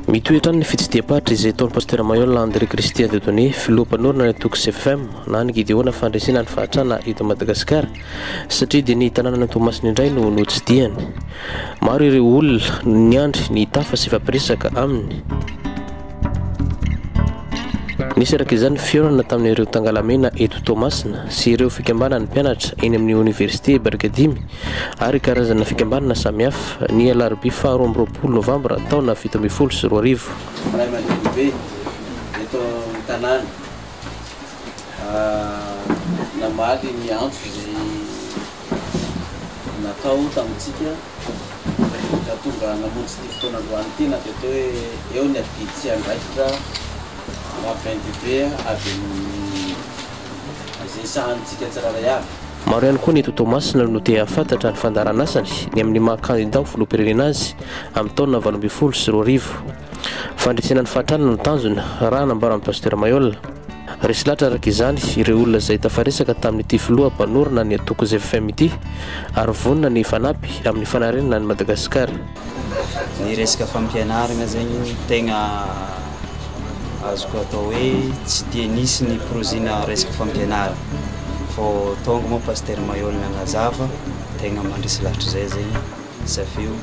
Mitohy hatrany ny fitsidiham-paritra izay ataon'ny Pasitera Mayolle André Christian Dieudonné, filoha mpanorina ny antoko CFM na ny Gideona fandresena ny fahatrana eto Madagasikara satria dia ny tanànan'i Toamasina indray no notsidihany. Maro ireo olona no niandry ny hitafa sy hifampiresaka aminy. Nisy araka izany ny fihaonana tamin'ireo tangalamena eto Toamasina sy ireo fikambanan'ny mpianatra eny amin'ny Oniversite Barikadimy ary karazana fikambanana samihafa, ny alarobia faharoa amby roapolo novambra taona fito ambin'ny folo sy roa arivo. Ray aman-drenibe eto an-tanàna namaly ny antso izay natao tamintsika raha tonga namonjy ity fotoana androany ity na dia toa hoe eo ny adidy sy andraikitra maventy be avy amin'ny izay sahanintsika tsirairay avy. Maro ihany koa ny eto Toamasina no te hahafantatra ny fandaharanasany ny amin'ny maha kandida ho filoham-pirenena azy amin'ny taona valo ambin'ny folo sy roa arivo. Fandresena ny fahantrana no tanjona, raha nambaran'ny Pasitera Mayola. Resy lahatra araka izany ireo olona izay tafaresaka tamin'ity filoha mpanorina ny antoko ZFM ity ary vonona ny hifanampy amin'ny fanarenana an'i Madagasikara. ny resaka fampianarana zegny tegna azoko atao hoe tsy dia nisy ny projet-na resaka fampianarana fô tônga moa Pasitera Mahewa nanazava tegna mandresy lahatra zay zegny izy avy eo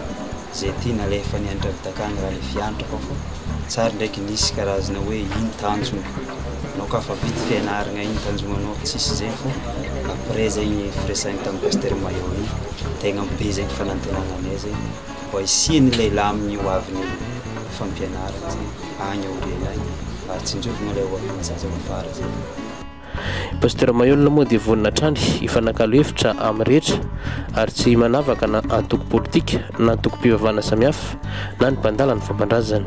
zay ty nalefany an-dRavitaka any raha le fiantrako fô tsary ndraiky nisy karazana hoe ino tanjona. Anao ka fa vita fianaragna igny tanjognanao fa tsisy zay fô après zegny firesahigny tamin'i Pasteur Maillot igny tegna be zegny fanantenagna anay zegny mba hisian'ny lehilahy amin'ny hoavin'ny fampianaragna zegny agny aoriana agny mba hatsinjovagna le hoavin'ny zaza ho afara zay. Pasteur Maillot moa dia vonona hatrany hifanakalo hevitra amin'ny rehetra ary tsy manavaka na antoko politika na antoko-pivavahana samihafa na ny mpandala ny fomban-drazany.